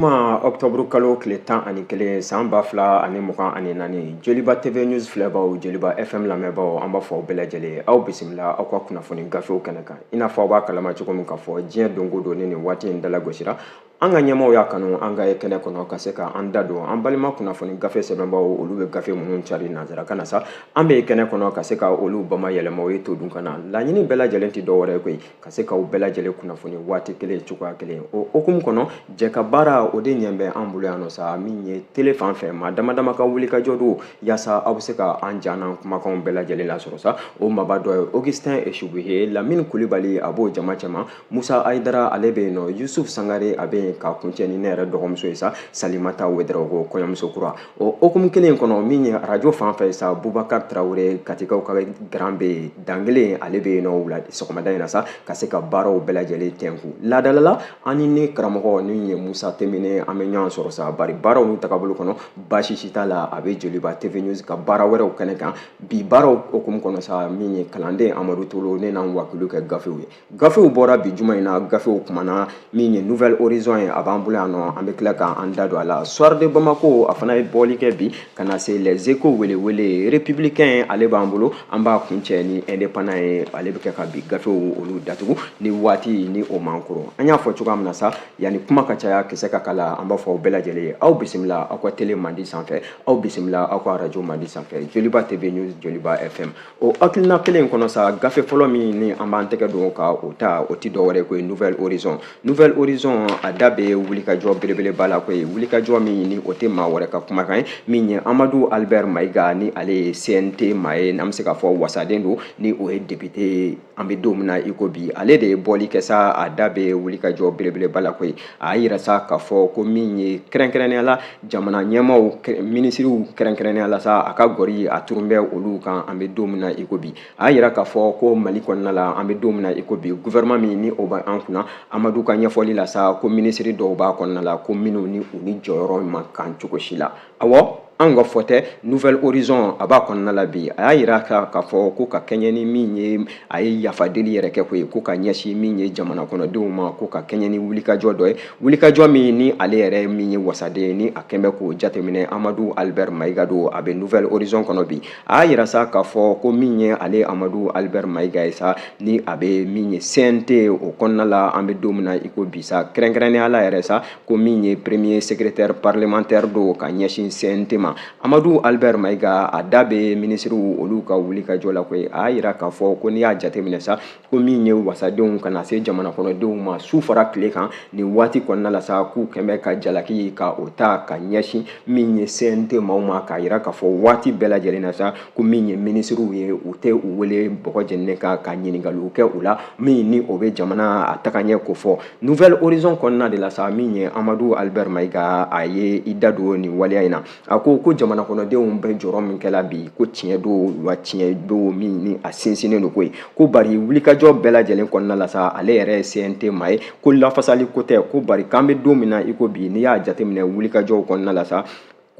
juma ɔktɔburu kalo tile tan ani kelen san ba fila ani mugan ani naani joliba tv news filɛbaw joliba fm lamɛnbaw an b'a fɔ aw bɛɛ lajɛlen ye aw bisimila aw ka kunnafoni gafew kɛnɛ kan i n'a fɔ aw b'a kalama cogo min k'a fɔ diɲɛ donko don ni nin waati in dalagosira an ka ɲɛmaaw y'a kanu an ka ye kɛnɛ kɔnɔ ka se ka an da don an balima kunnafoni gafe sɛbɛnbaw olu bɛ gafe minnu cari nanzarakan na sa an bɛ ye kɛnɛ kɔnɔ ka se ka olu bama yɛlɛma o ye to dun ka na laɲini bɛɛ lajɛlen tɛ dɔ wɛrɛ ye koyi ka se k'aw bɛɛ lajɛlen kunnafoni waati kelen cogoya kelen o hokumu kɔnɔ jɛ ka baara o de ɲɛ bɛ an bolo yan nɔ sa min ye tele fan fɛ maa dama dama ka wulikajɔ don yaasa aw bɛ se ka an ja n'an kumakanw bɛɛ lajɛlen lasɔrɔ sa o maaba dɔ ye augustin esubuhe lamini kulibali a b'o jama cɛma Musa Ayidara ale bɛ yen nɔ Yusuf Sangare a bɛ yen k'a kuncɛ ni ne yɛrɛ dɔgɔmuso ye sa Salimata Wederawogo kɔɲɔmuso kura o hokumu kelen in kɔnɔ min ye arajo fan fɛ sa Bubakari Tarawele Katikaw ka garan bɛ yen dan kelen ale bɛ yen nɔ wula sɔgɔmada in na sa ka se ka baaraw bɛɛ lajɛlen tɛnku laadalala ani ne karamɔgɔ min ye Musa Temene an bɛ ɲɔgɔn sɔrɔ sa bari baaraw n'u tagabolo kɔnɔ baasi si t'a la a bɛ Joliba TV News ka baara wɛrɛw kɛnɛ kan bi baaraw hokumu kɔnɔ sa min ye kalanden Amadu Tolo ne n'an wakiliw kɛ gafew ye Gafew bɔra bi juma in na gafew kumana min ye nouvelle horizon ye a b'an bolo yan nɔ an bɛ tila k'an da don a la soir de bamako a fana ye bɔli kɛ bi ka na se les échos welewele républicain ale b'an bolo an b'a kuncɛ ni indépendant ye ale bɛ kɛ ka bi gafew olu datugu ni waati ni o man kɔrɔ an y'a fɔ cogoya min na sa yanni kuma ka caya kisɛ ka kala an b'a fɔ aw bɛɛ lajɛlen ye aw bisimila aw ka tele mandi sanfɛ aw bisimila aw ka arajo mandi sanfɛ joliba tv news joliba fm o hakilina kelen in kɔnɔ sa gafe fɔlɔ min ni an b'an tɛgɛ don ka o ta o ti dɔwɛrɛ koyi nouvelle horizon nouvelle horizon a da bɛ wulikajɔ belebeleba la koyi wulikajɔ min ni o tɛ maa wɛrɛ ka kumakan ye min ye amadu albert mayiga ni ale ye cnt maa ye n'an bɛ se k'a fɔ wasaden don ni o ye depite an bɛ don min na i ko bi ale de ye bɔli kɛ sa a da bɛ wulikajɔ belebeleba la koyi a y'a yira sa k'a fɔ ko min ye kɛrɛnkɛrɛnnenya la jamana ɲɛmaaw minisiriw kɛrɛnkɛrɛnnenya la sa a ka gɔri a turun bɛ olu kan an bɛ don min na i ko bi a y'a yira k'a fɔ ko mali kɔnɔna la an bɛ don min na i ko bi gouvernement min ni o bɛ an kunna amadu ka ɲɛfɔli la sa ko minisiri dɔw b'a kɔnɔna la ko minnu ni u ni jɔyɔrɔ man kan cogo si la awɔ anw ka fɔ tɛ nouvelle horizon a b'a kɔnɔna la bi a y'a yira sa k'a fɔ ko ka kɛɲɛ ni min ye a ye yafa deli yɛrɛ kɛ koyi ko ka ɲɛsin min ye jamana kɔnɔdenw ma ko ka kɛɲɛ ni wulikajɔ dɔ ye wulikajɔ min ni ale yɛrɛ min ye wasaden ye ni a kɛn bɛ k'o jateminɛ amadu albert mayiga don a bɛ nouvelle horizon kɔnɔ bi a y'a yira sa k'a fɔ ko min ye ale amadu albert mayiga ye sa ni a bɛ min ye cnt o kɔnɔna la an bɛ don min na i ko bi sa kɛrɛnkɛrɛnnenya la yɛrɛ sa ko min ye premier secrétaire parlementaire don ka ɲɛsin CNT ma Amadu Albert Mayiga a da bɛ minisiriw olu ka wulikajɔ la koyi a y'a yira k'a fɔ ko n'i y'a jateminɛ sa ko min ye wasadenw ka na se jamana kɔnɔdenw ma su fara tile kan nin waati kɔnɔna la sa k'u kɛn bɛ ka jalaki ka o ta ka ɲɛsin min ye CNT maaw ma k'a yira k'a fɔ waati bɛɛ lajɛlen na sa ko min ye minisiriw ye u tɛ u wele bɔgɔ jɛninen kan ka ɲininkaliw kɛ u la min ni o bɛ jamana a tagaɲɛ kofɔ nouvelle horizon kɔnɔna de la sa min ye amadu albert mayiga a ye i da don nin waleya in na a ko ko jamana kɔnɔdenw bɛ jɔrɔ min kɛla bi ko tiɲɛ don wa tiɲɛ don min ni a sinsinnen don koyi ko bari wulikajɔ bɛɛ lajɛlen kɔnɔna la sa ale yɛrɛ ye cnt maa ye ko lafasali ko tɛ ko bari k'an bɛ don min na i ko bi n'i y'a jateminɛ wulikajɔw kɔnɔna la sa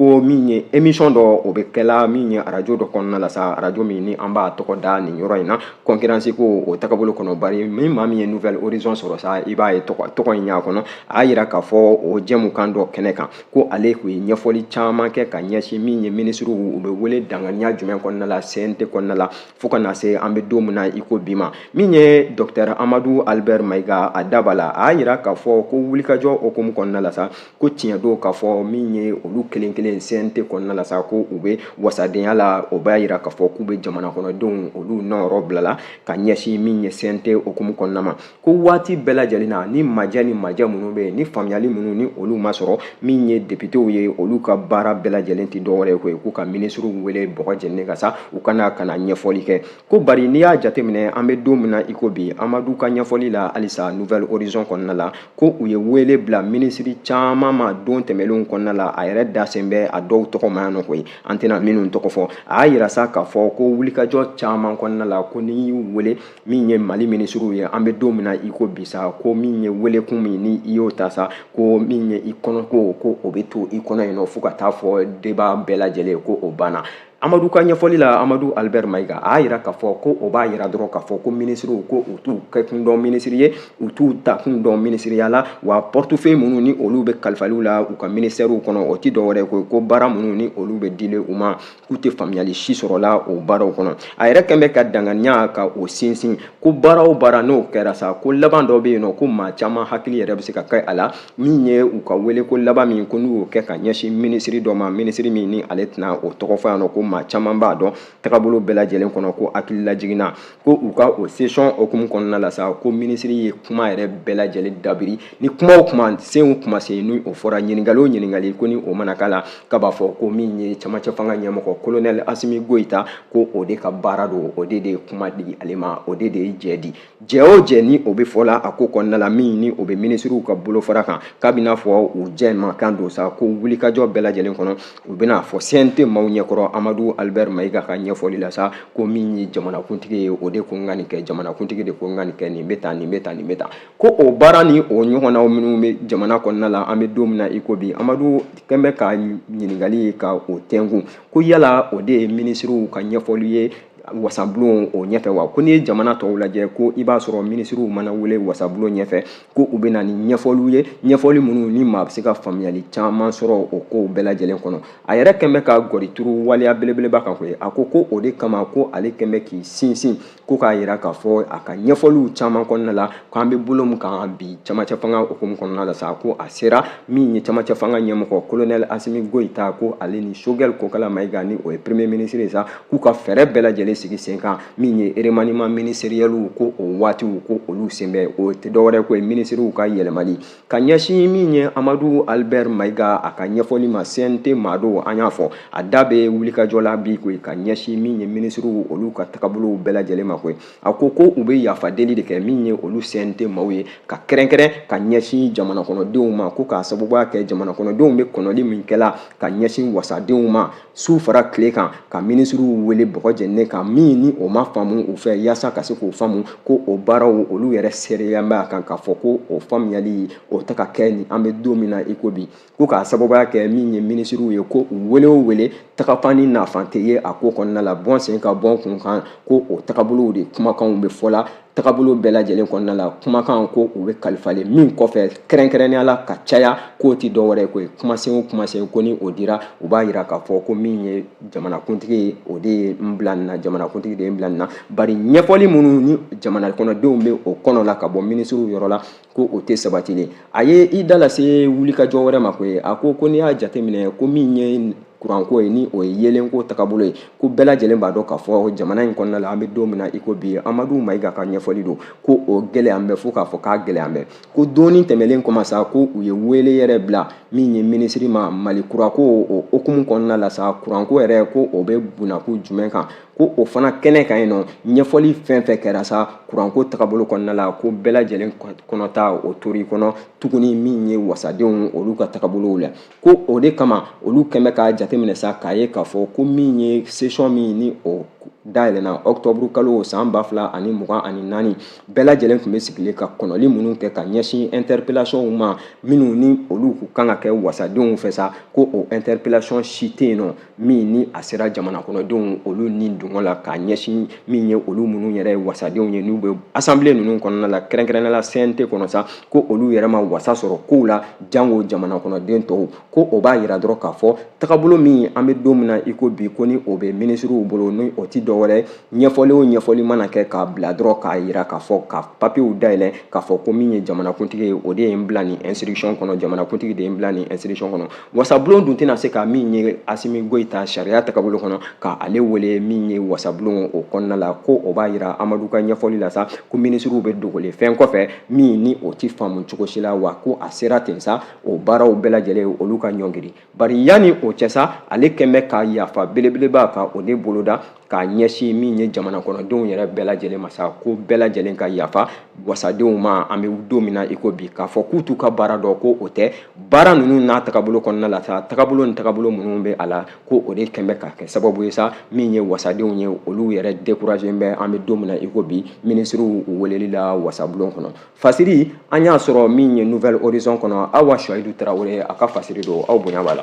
ko min ye émission dɔ o bɛ kɛla min ye arajo dɔ kɔnɔna la sa arajo min ni an b'a tɔgɔ da nin yɔrɔ in na concurrence ko o tagabolo kɔnɔ bari min maa min ye nouvelle horizon sɔrɔ sa i b'a ye tɔgɔ in y'a kɔnɔ a y'a yira k'a fɔ o jɛmukan dɔ kɛnɛ kan ko ale tun ye ɲɛfɔli caman kɛ ka ɲɛsin min ye minisiriw u bɛ wele danganiya jumɛn kɔnɔna la cnt kɔnɔna la fo ka na se an bɛ don min na i ko bi maa min ye docteur amadu albert mayiga a da b'a la a y'a yira k'a fɔ ko wulikajɔ hukumu kɔnɔna la sa ko tiɲɛ don k'a fɔ min ye olu kelen kelen cnt kɔnɔna la sa ko u bɛ wasadenya la o b'a yira k'a fɔ k'u bɛ jamana kɔnɔdenw olu nɔyɔrɔ bilala ka ɲɛsin min ye cnt hukumu kɔnɔna ma ko waati bɛɛ lajɛlen na nin ma jɛ nin ma jɛ minnu bɛ yen ni faamuyali minnu ni olu ma sɔrɔ min ye depitew ye olu ka baara bɛɛ lajɛlen tɛ dɔwɛrɛ ye koyi k'u ka minisiriw wele bɔgɔ jɛninen kan sa u ka na ka na ɲɛfɔli kɛ ko bari n'i y'a jateminɛ an bɛ don min na iko bi amadu ka ɲɛfɔli la halisa nouvelle horizon kɔnɔna la ko u ye wele bila minisiri caman ma don tɛmɛnlenw kɔnɔna la a yɛrɛ dasen bɛ a dɔw tɔgɔ ma yan nɔ koyi an tɛna minnu tɔgɔ fɔ a y'a yira sa k'a fɔ ko wulikajɔ caman kɔnɔna la ko n'i y'u wele min ye mali minisiriw ye an bɛ don min na iko bi sa ko min ye welekun min ni i y'o ta sa ko min ye i kɔnɔko ko o bɛ to i kɔnɔ yen nɔ fo ka taa fɔ débat bɛɛ lajɛlen ko o banna amadu ka ɲɛfɔli la amadu albert mayiga a y'a yira k'a fɔ ko o b'a yira dɔrɔn k'a fɔ ko minisiriw ko u t'u kɛkun dɔn minisiri ye u t'u takun dɔn minisiriya la wa portefeuille minnu ni olu bɛ kalifalen u la u ka minisitɛriw kɔnɔ o tɛ dɔwɛrɛ kɔ ko baara minnu ni olu bɛ dilen u ma k'u tɛ faamuyali si sɔrɔla o baaraw kɔnɔ a yɛrɛ kɛn bɛ ka danganiya ka o sinsin ko baara o baara n'o kɛra sa ko laban dɔ bɛ yen nɔ ko maa caman hakili yɛrɛ bɛ se ka kɛ a la min ye u ka weleko laban min ko n'u y'o kɛ ka ɲɛsin minisiri dɔ ma minisiri min ni ale tɛna o tɔgɔ fɔ yan nɔ ko maa caman b'a dɔn tagabolo bɛɛ lajɛlen kɔnɔ ko hakililajiginna ko u ka o session hukumu kɔnɔna la sa ko minisiri ye kuma yɛrɛ bɛɛ lajɛlen dabiri ni kuma o kumasen o kumasen ni o fɔra ɲininkali o ɲininkali ko ni o mana k'a la k'a b'a fɔ ko min ye camancɛ fanga ɲɛmɔgɔ kolonɛli asimi goyita ko o de ka baara don o de de ye kuma di ale ma o de de ye jɛ di Jɛ o jɛ ni o bɛ fɔ la a ko kɔnɔna la min ni o bɛ minisiriw ka bolofara kan k'a bɛnaa fɔ u jɛmukan don sa ko wulikajɔ bɛɛ lajɛlen kɔnɔ u bɛn'a fɔ cnt maaw ɲɛkɔrɔ amadu albert mayiga ka ɲɛfɔli la sa ko min ye jamanakuntigi ye o de ko n ka nin kɛ jamanakuntigi de ko n ka nin kɛ nin bɛ tan nin bɛ tan nin bɛ tan ko o baara ni o ɲɔgɔnna minnu bɛ jamana kɔnɔna la an bɛ don min na i ko bi amadu kɛn bɛ ka ɲininkali ye ka o tɛnkun ko yala o de ye minisiriw ka ɲɛfɔli ye wasabulon o ɲɛfɛ wa ko n'i ye jamana tɔw lajɛ ko i b'a sɔrɔ minisiriw mana wele wasabulon ɲɛfɛ ko u bɛ na ni ɲɛfɔliw ye ɲɛfɔli minnu ni maa bɛ se ka faamuyali caman sɔrɔ o kow bɛɛ lajɛlen kɔnɔ a yɛrɛ kɛn bɛ ka gɔrituru waleya belebeleba kan koyi a ko ko o de kama ko ale kɛn bɛ k'i sinsin ko k'a yira k'a fɔ a ka ɲɛfɔliw caman kɔnɔna la ko an bɛ bolo min kan bi camancɛ fanga hukumu kɔnɔna la sa ko a sera min ye camancɛ fanga ɲɛmɔgɔ kolonɛli asimi goyita ko ale ni sogɛli kokala mayiga ni o ye premier ministre ye sa k'u ka fɛɛrɛ bɛɛ lajɛlen sigi sen kan min ye remaniement ministériel ko o waatiw ko olu sen bɛ o tɛ dɔwɛrɛ ko ye minisiriw ka yɛlɛmali ka ɲɛsin min ye amadu albert mayiga a ka ɲɛfɔli ma cnt maa don an y'a fɔ a da bɛ wulikajɔ la bi koyi ka ɲɛsin min ye minisiriw olu ka tagabolow bɛɛ lajɛlen ma koyi a ko ko u bɛ yafa deli de kɛ min ye olu cnt maaw ye ka kɛrɛnkɛrɛn ka ɲɛsin jamana kɔnɔdenw ma ko k'a sababuya kɛ jamana kɔnɔdenw bɛ kɔnɔli min kɛla ka ɲɛsin wasadenw ma su fara tile kan ka minisiriw wele bɔgɔ jɛninen kan min ni o ma faamu u fɛ yaasa ka se k'o faamu ko o baaraw olu yɛrɛ seereya bɛ a kan k'a fɔ ko o faamuyali o tɛ ka kɛ ni an bɛ don min na i ko bi ko k'a sababuya kɛ min ye minisiriw ye ko u wele o wele tagafan ni nafan tɛ ye a ko kɔnɔna la bɔ n sen kan bɔ n kun kan ko o tagabolow de kumakanw bɛ fɔ la tagabolo bɛɛ lajɛlen kɔnɔna la kumakan ko u bɛ kalifalen min kɔfɛ kɛrɛnkɛrɛnnenya la ka caya k'o tɛ dɔ wɛrɛ ko ye kumasen o kumasen ko ni o dira u b'a yira k'a fɔ ko min ye jamanakuntigi ye o de ye n bila nin na jamanakuntigi de ye n bila nin na bari ɲɛfɔli minnu ni jamana kɔnɔdenw bɛ o kɔnɔ la ka bɔ minisiriw yɔrɔ la ko o tɛ sabatilen a ye i da lase wulikajɔ wɛrɛ ma ko ye a ko ko n'i y'a jateminɛ ko min ye kuranko ye ni o ye yeelenko tagabolo ye ko bɛɛ lajɛlen b'a dɔn k'a fɔ jamana in kɔnɔna la an bɛ don min na i ko bi amadu mayiga ka ɲɛfɔli don ko o gɛlɛyan bɛ fo k'a fɔ k'a gɛlɛyan bɛ ko don nin tɛmɛlen kɔma sa ko u ye wele yɛrɛ bila min ye minisiri ma mali kurako o hukumu kɔnɔna la sa kuranko yɛrɛ ko o bɛ bunako jumɛn kan ko o fana kɛnɛ kan yen nɔ ɲɛfɔli fɛn fɛn kɛra sa kuranko tagabolo kɔnɔna la ko bɛɛ lajɛlen kɔnɔta o tor'i kɔnɔ tuguni min ye wasadenw olu ka tagabolow la ko o de kama olu kɛn bɛ k'a jateminɛ sa k'a ye k'a fɔ ko min ye sesɔn min ni o dayɛlɛna ɔkutɔburu kalo san ba fila ani mugan ani naani bɛɛ lajɛlen tun bɛ sigilen ka kɔnɔli minnu kɛ ka ɲɛsin ɛntɛripelasɔnw ma minnu ni olu kan ka kɛ wasadenw fɛ sa ko o ɛntɛripelasɔn si tɛ yen nɔ min ni a sera jamanakɔnɔdenw olu ni dungɔ la k'a ɲɛsin min ye olu minnu yɛrɛ wasadenw ye n'u bɛ assemblée ninnu kɔnɔna la kɛrɛnkɛrɛnnenya la CNT kɔnɔ sa ko olu yɛrɛ ma wasa sɔrɔ kow la jango jamanakɔnɔden tɔw ko o b'a yira dɔrɔn k'a fɔ tagabolo min an bɛ don min na i ko bi ko ni o bɛ minisiriw bolo ni o tɛ dɔwɛrɛ ɲɛfɔli o ɲɛfɔli mana kɛ k'a bila dɔrɔn k'a yira k'a fɔ ka papiyew dayɛlɛ k'a fɔ ko min ye jamanakuntigi ye o de ye n bila nin instruction kɔnɔ jamanakuntigi de ye n bila nin instruction kɔnɔ wasabulon dun tɛna se ka min ye asimi goyita sariya tagabolo kɔnɔ ka ale wele min ye wasabulon o kɔnɔna la ko o b'a yira amadu ka ɲɛfɔli la sa ko minisiriw bɛ dogolen fɛn kɔfɛ min ni o tɛ faamu cogo si la wa ko a sera ten sa o baaraw bɛɛ lajɛlen olu ka ɲɔngiri bari yanni o cɛ sa ale kɛn bɛ ka yafa belebeleba ka o de boloda k'a ɲɛsin min ye jamana kɔnɔdenw yɛrɛ bɛɛ lajɛlen ma sa ko bɛɛ lajɛlen ka yafa wasadenw ma an bɛ don min na i ko bi k'a fɔ k'u t'u ka baara dɔn ko o tɛ baara ninnu n'a tagabolo kɔnɔna la sa tagabolo ni tagabolo minnu bɛ a la ko o de kɛn bɛ ka kɛ sababu ye sa min ye wasadenw ye olu yɛrɛ dekurazen bɛ an bɛ don min na i ko bi minisiriw weleli la wasabulon kɔnɔ fasiri an y'a sɔrɔ min ye Nouvel Horizon kɔnɔ Awa Suwayidu Tarawele a ka fasiri don aw bonya b'a la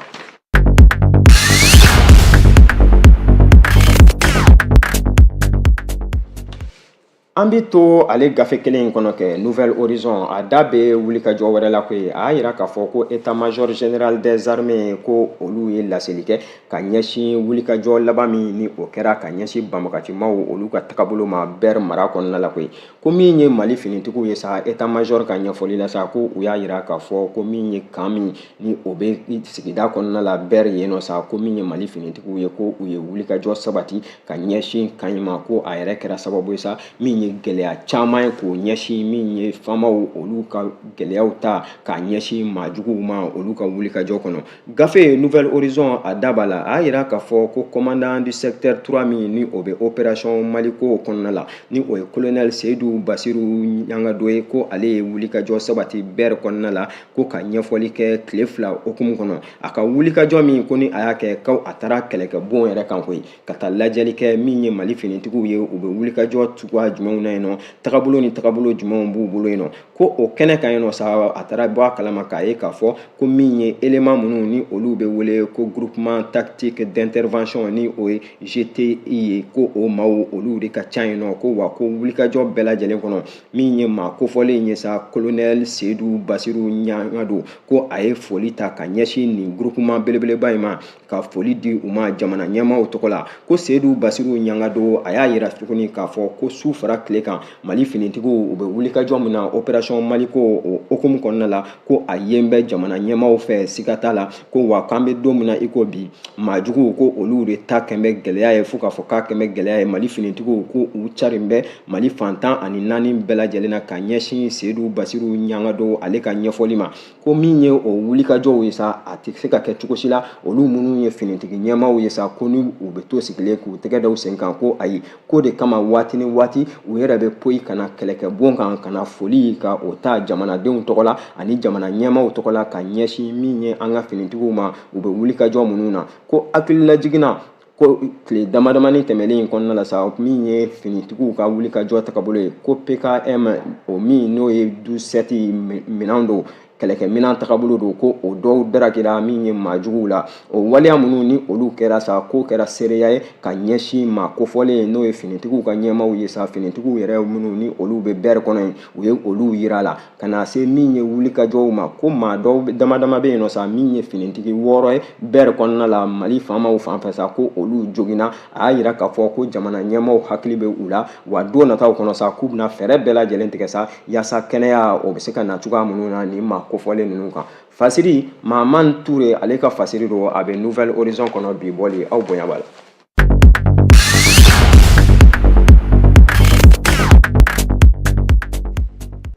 An bɛ to ale gafe kelen in kɔnɔ kɛ Nouvel Horizon a da bɛ wulikajɔ wɛrɛ la koyi a y'a yira k'a fɔ ko état major général des armées ko olu ye laseli kɛ ka ɲɛsin wulikajɔ laban min ni o kɛra ka ɲɛsin banbagacimaw olu ka tagabolo ma Ber mara kɔnɔna la koyi ko min ye mali finitigiw ye sa état major ka ɲɛfɔli la sa ko u y'a yira k'a fɔ ko min ye kan min ni o bɛ sigida kɔnɔna la Ber yen nɔ sa ko min ye mali finitigiw ye ko u ye wulikajɔ sabati ka ɲɛsin kan in ma ko a yɛrɛ kɛra sababu ye sa min ye gɛlɛya caman ye k'o ɲɛsin min ye famaw olu ka gɛlɛyaw ta k'a ɲɛsin maajuguw ma olu ka wulikajɔ kɔnɔ Gafe Nouvel Horizon a da b'a la, a y'a yira k'a fɔ ko commandant du secteur 3 min ni o bɛ opération Maliko kɔnɔna la, ni o ye colonel Seyidu Basiru Ɲangado ye, ko ale ye wulikajɔ sabati Ber kɔnɔna la, ko ka ɲɛfɔli kɛ tile fila hukumu kɔnɔ. A ka wulikajɔ min ko ni a y'a kɛ, ko a taara kɛlɛkɛbon yɛrɛ kan koyi, ka taa lajɛli kɛ min ye Mali finitigiw ye, u bɛ wulikajɔ cogoya jumɛnw na yen nɔ, tagabolo ni tagabolo jumɛnw b'u bolo yen nɔ. ko o kɛnɛ kan yen nɔ sa a taara bɔ a kalama k'a ye k'a fɔ ko min ye élément minnu ni olu bɛ wele ko groupement tactique d'intervention ni o ye GTI ye ko o maaw olu de ka ca yen nɔ ko wa ko wulikajɔ bɛɛ lajɛlen kɔnɔ min ye maa kofɔlen ye sa colonel Seyidu Basiru Ɲangado ko a ye foli ta ka ɲɛsin nin groupement belebeleba in ma ka foli di u ma jamana ɲɛmaaw tɔgɔ la ko seyidu basiru ɲangado a y'a yira tuguni k'a fɔ ko su fara tile kan mali finitigiw u bɛ wulikajɔ min na operasɔn maliko o hukumu kɔnɔna la ko a yen bɛ jamana ɲɛmaaw fɛ siga t'a la ko wa k'an bɛ don min na i ko bi maa juguw ko olu de ta kɛn bɛ gɛlɛya ye fo k'a fɔ k'a kɛn bɛ gɛlɛya ye mali finitigiw ko u carin bɛ mali fan tan ani naani bɛɛ lajɛlen na ka ɲɛsin seyidu basiru ɲangado ale ka ɲɛfɔli ma ko min ye o wulikajɔw ye sa a tɛ se ka kɛ cogo si la olu minnu ye finitigi ɲɛmaaw ye sa ko ni u bɛ to sigilen k'u tɛgɛ da u sen kan ko ayi k'o de kama waati ni waati u yɛrɛ bɛ poyi ka na kɛlɛkɛbon kan ka na foli ka o ta jamanadenw tɔgɔ la ani jamana ɲɛmaaw tɔgɔ la ka ɲɛsin min ye an ka finitigiw ma u bɛ wulikajɔ minnu na ko hakililajigin na ko tile damadamani tɛmɛnen in kɔnɔna la sa min ye finitigiw ka wulikajɔ tagabolo ye ko pkm o min n'o ye douze sept minɛn don kɛlɛkɛminɛn tagabolo don ko o dɔw darakira min ye maajuguw la o waleya minnu ni olu kɛra sa k'o kɛra seereya ye ka ɲɛsin maa kofɔlen in n'o ye finitigiw ka ɲɛmaaw ye sa finitigiw yɛrɛ minnu ni olu bɛ bɛri kɔnɔ yen u ye olu yira la ka na se min ye wulikajɔw ma ko maa dɔw damadama bɛ yen nɔ sa min ye finitigi wɔɔrɔ ye bɛri kɔnɔna la mali faamaw fan fɛ sa ko olu joginna a y'a yira k'a fɔ ko jamana ɲɛmaaw hakili bɛ u la wa don nataw kɔnɔ sa k'u bɛna fɛɛrɛ bɛɛ lajɛlen tigɛ sa yaasa kɛnɛya o bɛ se ka na cogoya minnu na nin maa kofɔlen ninnu kan fasiri maaman ture ale ka fasiri don a bɛ nouvel horizon kɔnɔ bi bɔli aw bonya b'a la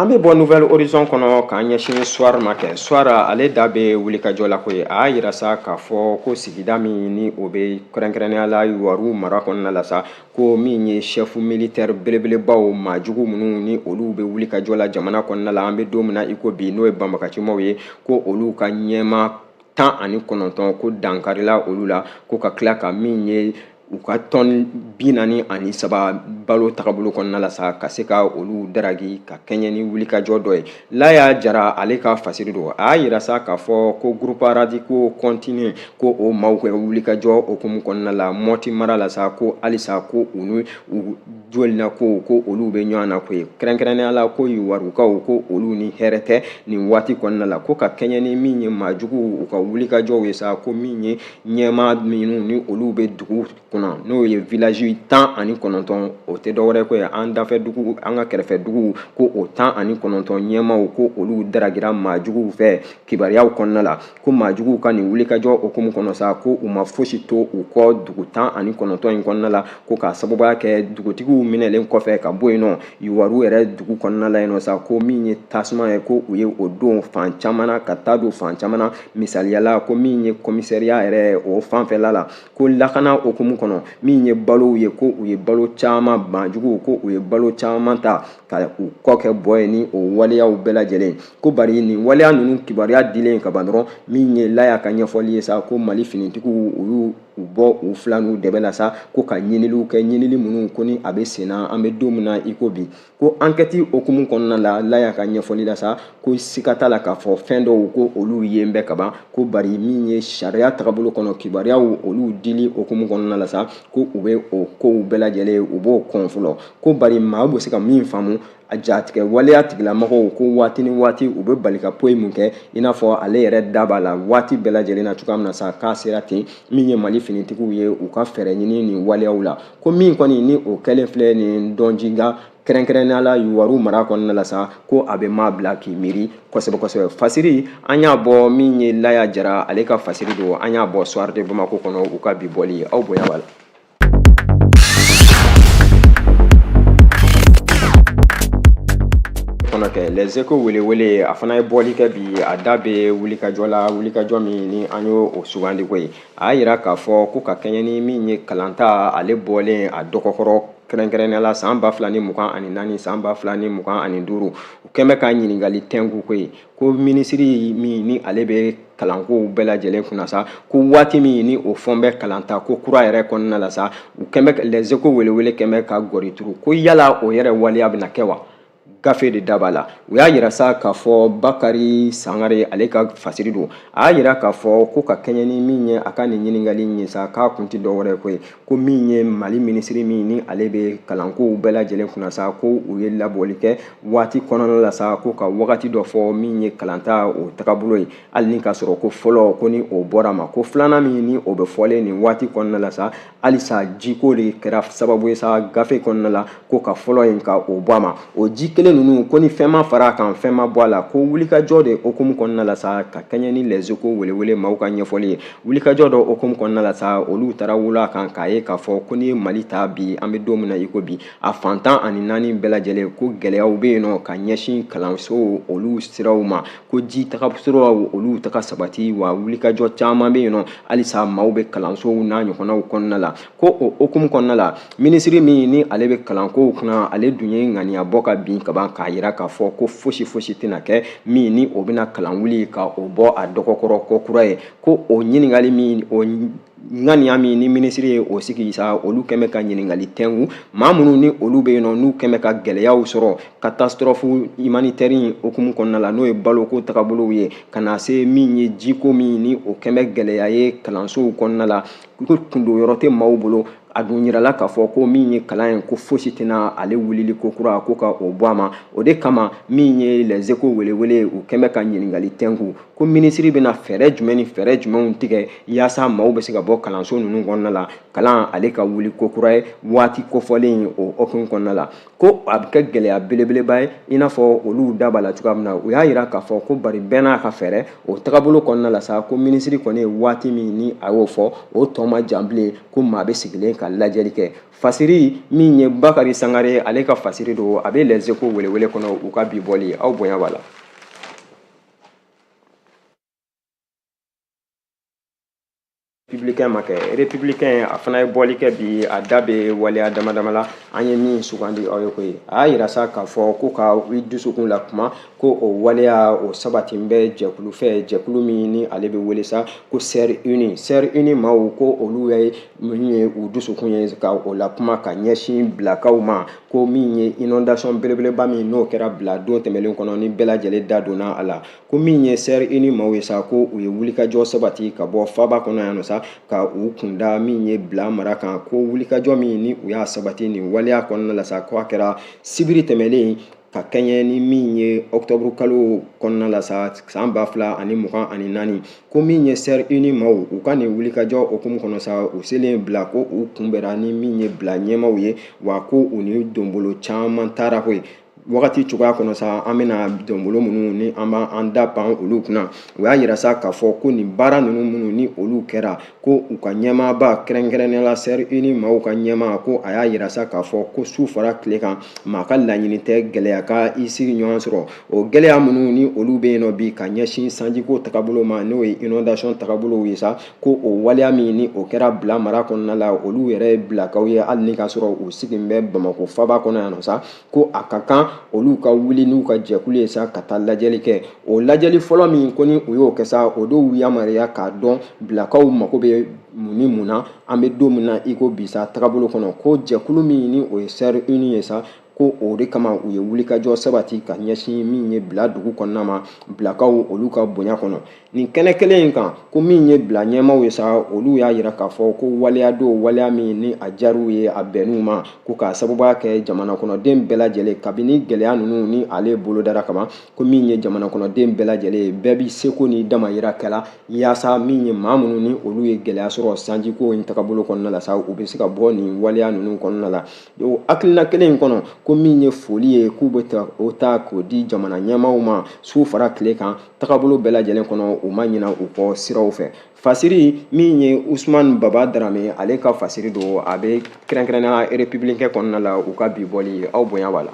An bɛ bɔ Nouvel Horizon kɔnɔ k'an ɲɛsin Soir ma kɛ. Soir ale da bɛ wulikajɔ la koyi. A y'a jira sa k'a fɔ ko sigida min ni o bɛ kɛrɛnkɛrɛnnenya la Yuwaru mara kɔnɔna la sa, ko min ye chef militaire belebelebaw maa jugu minnu ni olu bɛ wulikajɔ la jamana kɔnɔna la, an bɛ don min na i ko bi n'o ye banbagacimaw ye, ko olu ka ɲɛmaa tan ani kɔnɔntɔn ko dankarila olu la ko ka tila ka min ye u ka tɔni bi naani ani saba balo tagabolo kɔnɔna la sa ka se ka olu daragi ka kɛɲɛ ni wulikajɔ dɔ ye laya jara ale ka fasiri don a y'a yira sa k'a fɔ ko groupes radicaux continuent ko o maaw kɛ wulikajɔ hukumu kɔnɔna la mɔti mara la sa ko halisa ko u ni jɔrɔnanko ko olu bɛ ɲɔgɔn na koyi kɛrɛnkɛrɛnnenya la ko yuwarukaw ko olu ni hɛrɛ tɛ nin waati kɔnɔna la ko ka kɛɲɛ ni min ye maa juguw u ka wulikajɔw ye sa ko min ye ɲɛmaa minnu ni olu bɛ dugu kunna n'o ye village tan ani kɔnɔntɔn o tɛ dɔwɛrɛ ko ye an dafɛ dugu an ka kɛrɛfɛ duguw ko o tan ani kɔnɔntɔn ɲɛmaaw ko olu daragira maa juguw fɛ kibaruyaw kɔnɔna la ko maajuguw ka nin wulikajɔ okumu kɔnɔ sa ko u ma fosi to u kɔ dugu tan ani kɔnɔntɔn in kɔnɔna la ko k'a sababuya kɛ dugutigiw minɛlen kɔfɛ ka bɔ yen nɔ yuwaru yɛrɛ dugu kɔnɔna la yen nɔ sa ko min ye tasuma ye ko u ye o don fan caman na ka taa don fan caman na misaliya la ko min ye komisariya yɛrɛ o fanfɛla la ko lakana okumu kɔnɔ min ye balow ye ko u ye balo caman maajuguw ko u ye balo caman ta ka u kɔ kɛ bɔ ye ni o waleyaw bɛɛ lajɛlen ko bari nin waleya ninnu kibaruya dilen ka ban dɔrɔn min ye laya ka ɲɛfɔli ye sa ko mali finitigiw u y'u bɔ u fila n'u dɛbɛ la sa ko ka ɲiniliw kɛ ɲinili minnu ko ni a bɛ sen na an bɛ don min na i ko bi ko ankɛti okumu kɔnɔna la laya ka ɲɛfɔli la sa ko siga t'a la k'a fɔ fɛn dɔw ko olu yen bɛ kaban ko bari min ye sariya tagabolo kɔnɔ kibaruyaw olu dili okumu kɔnɔna la sa ko u bɛ o kow bɛɛ lajɛlen u b'o kɔn fɔlɔ ko bari maa bɛ se ka min faamu a jatigɛ waleya tigilamɔgɔw ko waati ni waati u bɛ bali ka poyi mun kɛ i n'a fɔ ale yɛrɛ da b'a la waati bɛɛ lajɛlen na cogoya min na sa k'a sera ten min ye mali finitigiw ye u ka fɛɛrɛ ɲini nin waleyaw la ko min kɔni ni o kɛlen filɛ nin dɔnjiga kɛrɛnkɛrɛnnenya la yuwaru mara kɔnɔna la sa ko a bɛ maa bila k'i miiri kosɛbɛ kosɛbɛ fasiri an y'a bɔ min ye laya jara ale ka fasiri don an y'a bɔ soir de bamako kɔnɔ u ka bi bɔli aw bonya b'a la fana kɛ lɛzeko welewele a fana ye bɔli kɛ bi a da bɛ wulikajɔ la wulikajɔ min ni an y'o sugandi ko ye a y'a yira k'a fɔ ko ka kɛɲɛ ni min ye kalanta ale bɔlen a dɔgɔkɔrɔ kɛrɛnkɛrɛnnenya la san ba fila ni mugan ani naani san ba fila ni mugan ani duuru u kɛn bɛ ka ɲininkali tɛnku ko ye ko minisiri min ni ale bɛ kalankow bɛɛ lajɛlen kunna sa ko waati min ni o fɔn bɛ kalanta ko kura yɛrɛ kɔnɔna la sa u kɛn bɛ lɛzeko welewele kɛn bɛ ka gɔri turu ko yala o yɛrɛ waleya bɛna kɛ wa gafe de da b'a la u y'a yira sa k'a fɔ bakari sangare ale ka fasiri don a y'a yira k'a fɔ ko ka kɛɲɛ ni min ye a ka nin ɲininkali in ye sa k'a kun tɛ dɔwɛrɛ ko ye ko min ye mali minisiri min ni ale bɛ kalankow bɛɛ lajɛlen kunna sa ko u ye labɔli kɛ waati kɔnɔna la sa ko ka wagati dɔ fɔ min ye kalanta o tagabolo ye hali ni k'a sɔrɔ ko fɔlɔ ko ni o bɔr'a ma ko filanan min ni o bɛ fɔlen nin waati kɔnɔna la sa halisa jiko de kɛra sababu ye sa gafe kɔnɔna la ko ka fɔlɔ in ka o bɔ a ma o ji kelen ninnu ko ni fɛn ma fara a kan fɛn ma bɔ a la ko wulikajɔ de okumu kɔnɔna la sa ka kɛɲɛ ni lɛzeko welewele maaw ka ɲɛfɔli ye wulikajɔ dɔ okumu kɔnɔna la sa olu taara wula kan k'a ye k'a fɔ ko n'i ye mali ta bi an bɛ don min na i ko bi a fan tan ani naani bɛɛ lajɛlen ko gɛlɛyaw bɛ yen nɔ ka ɲɛsin kalansow olu siraw ma ko ji taga siraw olu taga sabati wa wulikajɔ caman bɛ yen nɔ halisa maaw bɛ kalansow n'a ɲɔgɔnnaw kɔnɔna la ko o hukumu kɔnɔna la minisiri min ni ale bɛ kalankow kunna ale dun ye ŋaniya bɔ ka bin kaban k'a yira k'a fɔ ko fosi fosi tɛna kɛ min ni o bɛna kalan wuli ka o bɔ a dɔgɔkɔrɔ ko kura ye ko o ɲininkali min o ŋaniya min ni minisiri ye o sigi sa olu kɛn bɛ ka ɲininkali tɛnku maa minnu ni olu bɛ yen nɔ n'u kɛn bɛ ka gɛlɛyaw sɔrɔ catastrophe humanitaire in hukumu kɔnɔna la n'o ye baloko tagabolow ye ka na se min ye jiko min ni o kɛn bɛ gɛlɛya ye kalansow kɔnɔna la ko kundon yɔrɔ tɛ maaw bolo a dun yirala k'a fɔ ko min ye kalan ye ko fosi tɛna ale wulili ko kura ko ka o bɔ a ma o de kama min ye les échos welewele ye u kɛn bɛ ka ɲininkali tɛnku ko minisiri bɛna fɛɛrɛ jumɛn ni fɛɛrɛ jumɛnw tigɛ yaasa maaw bɛ se ka bɔ kalanso ninnu kɔnɔna la kalan ale ka wuli ko kura ye waati kofɔlen o hukumu kɔnɔna la ko a bɛ kɛ gɛlɛya belebeleba ye i n'a fɔ olu da b'a la cogoya min na u y'a yira k'a fɔ ko bari bɛɛ n'a ka fɛɛrɛ o tagabolo kɔnɔna la sa ko minisiri kɔni ye waati min ni a y'o fɔ o tɔ ma jan bilen ko maa bɛ sigilen ka lajɛli kɛ fasiri min ye bakari sangare ale ka fasiri don a bɛ les échos welewele kɔnɔ u ka bi bɔli aw bonya b'a la Républicain ma kɛ républicain a fana ye bɔli kɛ bi a da bɛ waleya damadama la an ye min sugandi aw ye koyi a y'a yira sa k'a fɔ ko ka i dusukun lakuma ko o waleya o sabati bɛ jɛkulu fɛ jɛkulu min ni ale bɛ wele sa ko sɛri uni sɛri uni maaw ko olu ye min ye u dusukun ye ka o lakuma ka ɲɛsin bilakaw ma ko min ye inondation belebeleba min n'o kɛra bila don tɛmɛlen kɔnɔ ni bɛɛ lajɛlen da donna a la ko min ye sɛri uni maaw ye sa ko u ye wulikajɔ sabati ka bɔ faaba kɔnɔ yan nɔ sa ka u kun da min ye bila mara kan ko wulikajɔ min ni u y'a sabati nin waleya kɔnɔna la sa ko a kɛra sibiri tɛmɛlen ka kɛɲɛ ni min ye ɔktɔburu kalo kɔnɔna la sa san ba fila ani mugan ani naani ko min ye sɛri uni maaw u ka nin wulikajɔ hukumu kɔnɔ sa u selen bila ko u kunbɛra ni min ye bila ɲɛmaaw ye wa ko u ni donbolo caman taara koyi wagati cogoya kɔnɔ sa an bɛna donbolo minnu ni an b'an da pan olu kunna u y'a yira sa k'a fɔ ko nin baara ninnu minnu ni olu kɛra ko u ka ɲɛmaaba kɛrɛnkɛrɛnnenya la sɛri uni maaw ka ɲɛmaa ko a y'a yira sa k'a fɔ ko su fara tile kan maa ka laɲini tɛ gɛlɛya ka i sigiɲɔgɔn sɔrɔ o gɛlɛya minnu ni olu bɛ yen nɔ bi ka ɲɛsin sanjiko tagabolo ma n'o ye inondation tagabolow ye sa ko o waleya min ni o kɛra bila mara kɔnɔna la olu yɛrɛ ye bilakaw ye hali ni k'a sɔrɔ u sigilen bɛ bamakɔ faaba kɔnɔ yan nɔ sa ko a ka kan olu ka wuli n'u ka jɛkulu ye sa ka taa lajɛli kɛ o lajɛli fɔlɔ min ko ni u y'o kɛ sa o de b'u yamaruya k'a dɔn bilakaw mago bɛ mun ni mun na an bɛ don min na i ko bi sa tagabolo kɔnɔ ko jɛkulu min ni o ye sɛri uni ye sa ko o de kama u ye wulikajɔ sabati ka ɲɛsin min ye bila dugu kɔnɔna ma bilakaw olu ka bonya kɔnɔ nin kɛnɛ kelen in kan ko min ye bila ɲɛmaw ye sa olu y'a yira k'a fɔ ko waleya don waleya min ni a diyar'u ye a bɛnn'u ma ko k'a sababuya kɛ jamana kɔnɔden bɛɛ lajɛlen kabini gɛlɛya ninnu ni ale bolodara kama ko min ye jamana kɔnɔden bɛɛ lajɛlen ye bɛɛ bi seko ni damayira kɛla yaasa min ye maa minnu ni olu ye gɛlɛya sɔrɔ sanjiko in tagabolo kɔnɔna la sa u bɛ se ka bɔ nin waleya ninnu kɔnɔna la o hakilina kelen in kɔnɔ ko min ye foli ye k'u bɛ o ta k'o di jamana ɲɛmaw ma su fara tile kan tagabolo bɛɛ lajɛlen kɔnɔ u ma ɲina u kɔ siraw fɛ fasiri min ye usman baba darame ale ka fasiri don a bɛ kɛrɛnkɛrɛnnenya républicain kɔnɔna la u ka bi bɔli aw bonya b'a la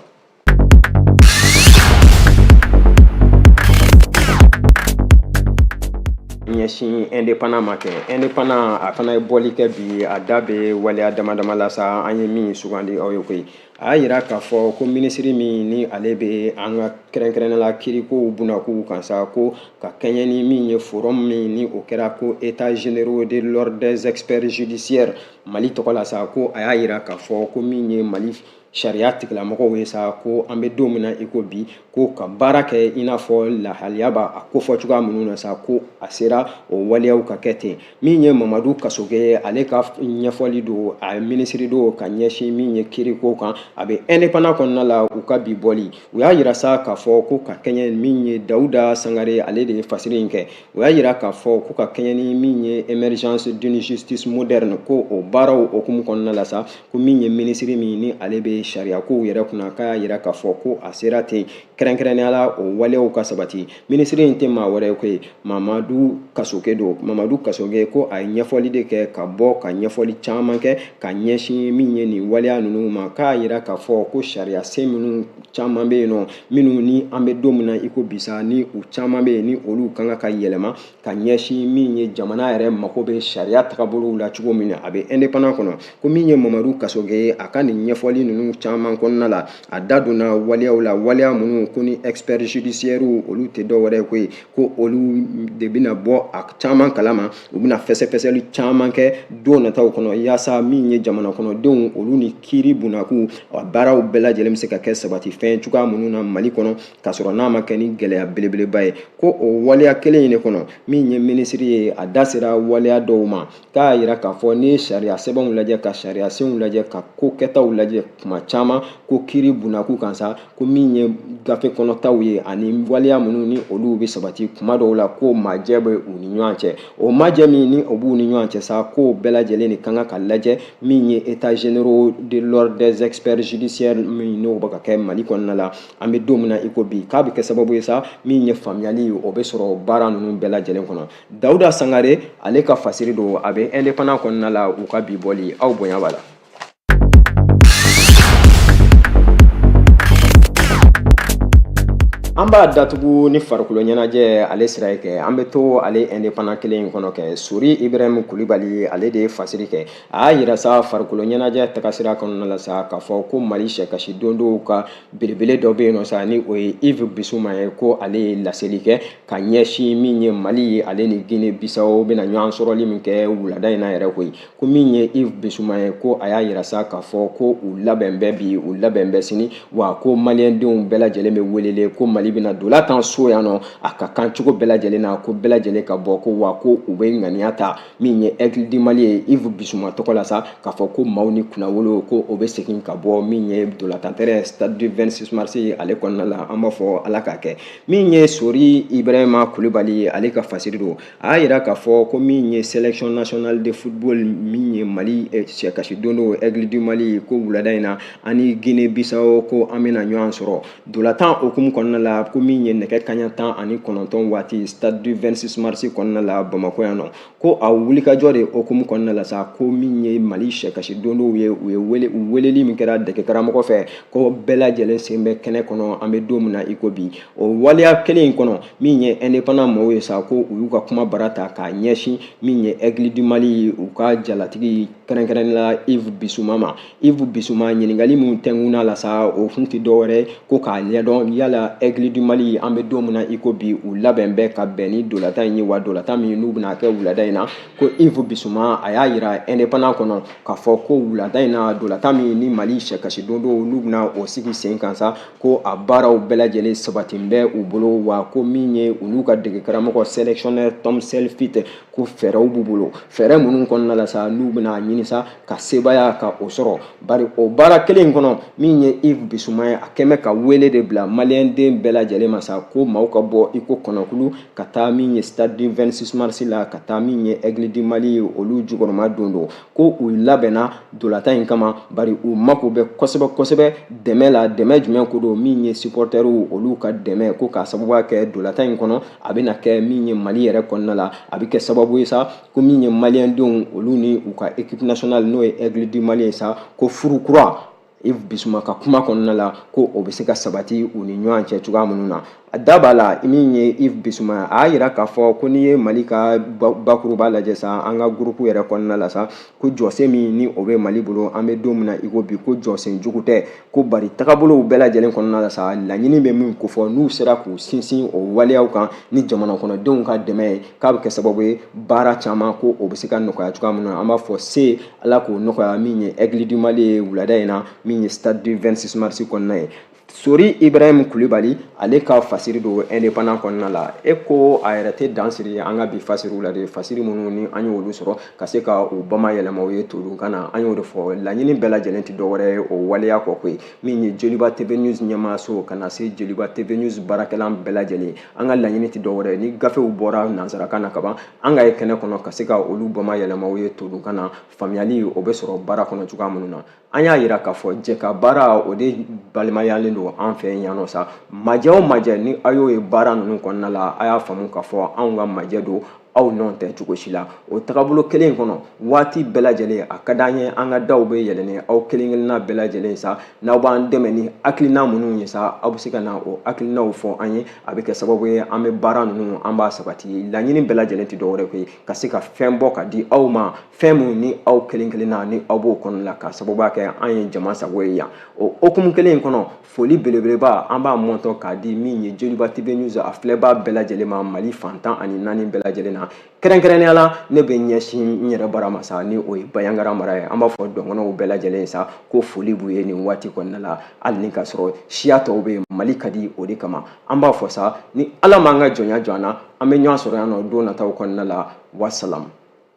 ɲɛsin indépendant ma kɛ indépendant a fana ye bɔli kɛ bi a da bɛ waleya dama dama la sa an ye min sugandi aw ye koyi a y'a jira k'a fɔ ko minisiri min ni ale bɛ an ka kɛrɛnkɛrɛnnenya la kirikow bunakun kan sa ko ka kɛɲɛ ni min ye forum min ni o kɛra ko états généraux de l'ordre des experts judiciaires mali tɔgɔ la sa ko a y'a jira k'a fɔ ko min ye mali sariya tigilamɔgɔw ye sa ko an bɛ don min na i ko bi ko ka baara kɛ i n'a fɔ lahaliya b'a a kofɔ cogoya minnu na sa ko a sera o waleyaw ka kɛ ten min ye mamadu kasoge ye ale ka ɲɛfɔli don a minisiri don ka ɲɛsin min ye kiriko kan a bɛ indépendant kɔnɔna la u ka bi bɔli u y'a yira sa k'a fɔ ko ka kɛɲɛ min ye dawuda sangare ale de ye fasiri in kɛ u y'a yira k'a fɔ ko ka kɛɲɛ ni min ye émergence d'une justice moderne ko o baaraw hukumu kɔnɔna la sa ko min ye minisiri min ni ale bɛ sariyakow yɛrɛ kunna k'a y'a yira k'a fɔ ko a sera ten kɛrɛnkɛrɛnnenya la o waleyaw ka sabati minisiri in tɛ maa wɛrɛ ye koyi mamadu kasoge don mamadu kasoge ko a ye ɲɛfɔli de kɛ ka bɔ ka ɲɛfɔli caman kɛ ka ɲɛsin min ye nin waleya ninnu ma k'a yira k'a fɔ ko sariya sen minnu caman bɛ yen nɔ minnu ni an bɛ don min na i ko bi sa ni u caman bɛ yen ni olu ka kan ka yɛlɛma ka ɲɛsin min ye jamana yɛrɛ mako bɛ sariya tagabolow la cogo min na a bɛ indépendant kɔnɔ ko min ye mamadu kasoge ye a ka nin ɲɛfɔli ninnu caman kɔnɔna la a da donna waleyaw la waleya minnu ko ni experts judiciaires olu tɛ dɔ wɛrɛ koyi ko olu de bɛna bɔ a caman kalama u bɛna fɛsɛfɛsɛli caman kɛ don nataw kɔnɔ yaasa min ye jamana kɔnɔdenw olu ni kiiri bunakun a baaraw bɛɛ lajɛlen bɛ se ka kɛ sabati fɛn cogoya minnu na mali kɔnɔ k'a sɔrɔ n'a ma kɛ ni gɛlɛya belebeleba ye ko o waleya kelen in de kɔnɔ min ye minisiri ye a da sera waleya dɔw ma k'a y'a yira k'a fɔ n'i ye sariya sɛbɛnw lajɛ ka sariya senw lajɛ ka ko kɛtaw lajɛ tuma caman ko kiri bunakun kan sa ko min ye gafe kɔnɔtaw ye ani waleya minnu ni olu bɛ sabati kuma dɔw la ko majɛ bɛ u ni ɲɔgɔn cɛ o majɛ min ni o b'u ni ɲɔgɔn cɛ sa k'o bɛɛ lajɛlen de ka kan ka lajɛ min ye états généraux de l'ordre des experts judiciaires min n'o bɛ ka kɛ mali kɔnɔna la an bɛ don min na i ko bi k'a bɛ kɛ sababu ye sa min ye faamuyali o bɛ sɔrɔ baara ninnu bɛɛ lajɛlen kɔnɔ dawuda sangare ale ka fasiri don a bɛ indépendant kɔnɔna la u ka bi bɔli aw bonya b'a la an b'a datugu ni farikolo ɲɛnajɛ ale sira ye kɛ an bɛ to ale indépendant kelen in kɔnɔ kɛ sori ibrahim kulibali ale de ye fasiri kɛ a y'a yira sa farikolo ɲɛnajɛ tagasira kɔnɔna la sa k'a fɔ ko mali sɛkasi dondonw ka belebele dɔ bɛ yen nɔ sa ni o ye Yves Bissouma ye ko ale ye laseli kɛ ka ɲɛsin min ye Mali ye ale ni Guinée Bissau bɛna ɲɔgɔn sɔrɔli min kɛ wulada in na yɛrɛ koyi ko min ye Yves Bissouma ye ko a y'a yira sa k'a fɔ ko u labɛn bɛ bi u labɛn bɛ sini wa ko maliyɛndenw bɛɛ lajɛlen bɛ welele ko Mali bɛna dola tan so yan nɔ a ka kan cogo bɛɛ lajɛlen na ko bɛɛ lajɛlen ka bɔ ko wa ko u bɛ ŋaniya ta min ye aigle du mali ye yves bissouma tɔgɔ la sa k'a fɔ ko maaw ni kunnawolo ko o bɛ segin ka bɔ min ye dolatan terrain stade du 26 mars ale kɔnɔna la an b'a fɔ ala k'a kɛ min ye sori ibrahima kulibali ale ka fasiri don a y'a yira k'a fɔ ko min ye sélection nationale de football min ye mali sɛkasi dondon aigle du mali ko wulada in na ani guinée bissau ko an bɛna ɲɔgɔn sɔrɔ Dolatan hukumu kɔnɔna la ko min ye nɛgɛ kaɲa tan ani kɔnɔntɔn waati stade du 26 mars kɔnɔna la Bamakɔ yan nɔ ko a wulikajɔ de hukumu kɔnɔna la sa ko min ye Mali sɛkasi dondonw ye u ye wele u weleli min kɛra dege karamɔgɔ fɛ ko bɛɛ lajɛlen sen bɛ kɛnɛ kɔnɔ an bɛ don min na i ko bi o waleya kelen in kɔnɔ min ye indépendant mɔgɔw ye sa ko u y'u ka kuma bara ta k'a ɲɛsin min ye Aigle du Mali u ka jalatigi kɛrɛnkɛrɛnnenya la Yves Bissouma ma yves bissouma ɲininkali minnu tɛnkuna la sa o kun tɛ dɔwɛrɛ ko k'a ɲɛdɔn yala aigle du mali an bɛ don min na i ko bi u labɛn bɛ ka bɛn ni dolatan in ye wa dolatan min n'u bɛna kɛ wulada in na ko yves bissouma a y'a yira indépendant kɔnɔ k'a fɔ ko wulada in na dolatan min ni mali sɛkasi dondonw n'u bɛna o sigi sen kan sa ko a baaraw bɛɛ lajɛlen sabatin bɛ u bolo wa ko min ye u n'u ka dege karamɔgɔ sélectionneur tom saintfiet ko fɛɛrɛw b'u bolo fɛɛrɛ minnu kɔnɔna la sa n'u bɛna ɲini sa ka sebaaya ka o sɔrɔ bari o baara kelen kɔnɔ min ye yves bissouma ye a kɛn bɛ ka wele de bila maliyɛnden bɛɛ lajɛlen ma sa ko maaw ka bɔ i ko kɔnɔkulu ka taa min ye stade du 26 mars la ka taa min ye aigle du mali ye olu jukɔrɔmadondon ko u labɛnna dolatan in kama bari u mako bɛ kosɛbɛ kosɛbɛ dɛmɛ la dɛmɛ jumɛn ko don min ye supporterw olu ka dɛmɛ ko k'a sababuya kɛ dolatan in kɔnɔ a bɛna kɛ min ye mali yɛrɛ kɔnɔna la a bɛ kɛ sababu ye sa ko min ye maliyɛndenw olu ni u ka équipe nationale n'o ye aigle du mali ye sa ko furu kura yves bissouma ka kuma kɔnɔna la ko o bɛ se ka sabati u ni ɲɔgɔn cɛ cogoya minnu na a da b'a la min ye yves bissouma a y'a yira k'a fɔ ko n'i ye mali ka bakuruba lajɛ sa an ka groupe yɛrɛ kɔnɔna la sa ko jɔsen min ni o bɛ mali bolo an bɛ don min na i ko bi ko jɔsen jugu tɛ ko bari tagabolow bɛɛ lajɛlen kɔnɔna la sa laɲini bɛ min kofɔ n'u sera k'u sinsin o waleyaw kan ni jamanakɔnɔdenw ka dɛmɛ ye k'a bɛ kɛ sababu ye baara caman ko o bɛ se ka nɔgɔya cogoya min na an b'a fɔ se ala k'o nɔgɔya min ye aigle du mali ye wulada in na min ye stade du 26 mars kɔnɔna ye sori ibrahim kulibali ale ka fasiri don indépendant kɔnɔna la e ko a yɛrɛ tɛ dan siri an ka bi fasiriw la de fasiri minnu ni an y'olu sɔrɔ ka se ka u bamayɛlɛma aw ye todunkan na an y'o de fɔ laɲini bɛɛ lajɛlen tɛ dɔwɛrɛ ye o waleya kɔ koyi min ye joliba tv news ɲɛmaayaso ka na se joliba tv news baarakɛla bɛɛ lajɛlen an ka laɲini tɛ dɔwɛrɛ ni gafew bɔra nansarakan na kaban an ka ye kɛnɛ kɔnɔ ka se ka olu bamayɛlɛma aw ye todunkan na faamuyali o bɛ sɔrɔ baara kɔnɔ cogoya minnu na an y'a yira k'a fɔ jɛkabaara o de balimayalen don an fɛ yan nɔ sa majɛ o majɛ ni a y'o ye baara ninnu kɔnɔna la a y'a faamu k'a fɔ anw ka majɛ don aw nɔ tɛ cogo si la o tagabolo kelen in kɔnɔ waati bɛɛ lajɛlen a ka d'an ye an ka daw bɛ yɛlɛlen aw kelen kelenna bɛɛ lajɛlen sa n'aw b'an dɛmɛ ni hakilina minnu ye sa aw bɛ se ka na o hakilinaw fɔ an ye a bɛ kɛ sababu ye an bɛ baara ninnu an b'a sabati laɲini bɛɛ lajɛlen tɛ dɔwɛrɛ koyi ka se ka fɛn bɔ ka di aw ma fɛn minnu ni aw kelen kelenna ni aw b'o kɔnɔ la ka sababuya kɛ an ye jama sago ye yan o hukumu kelen in kɔnɔ foli belebeleba an b'a mɔntɔ k'a di min ye joliba tv news a filɛbaa bɛɛ lajɛlen ma mali fan tan ani naani bɛɛ lajɛlen na kɛrɛnkɛrɛnnenya la ne bɛ ɲɛsin n yɛrɛ bara ma sa ni o ye bandiagara mara ye an b'a fɔ dɔgɔnɔw bɛɛ lajɛlen sa ko foli b'u ye nin waati kɔnɔna la hali ni ka sɔrɔ siya tɔw bɛ yen mali ka di o de kama an b'a fɔ sa ni ala m'an ka jɔnya jɔ an na an bɛ ɲɔgɔn sɔrɔ yan nɔ don nataw kɔnɔna la wasalamu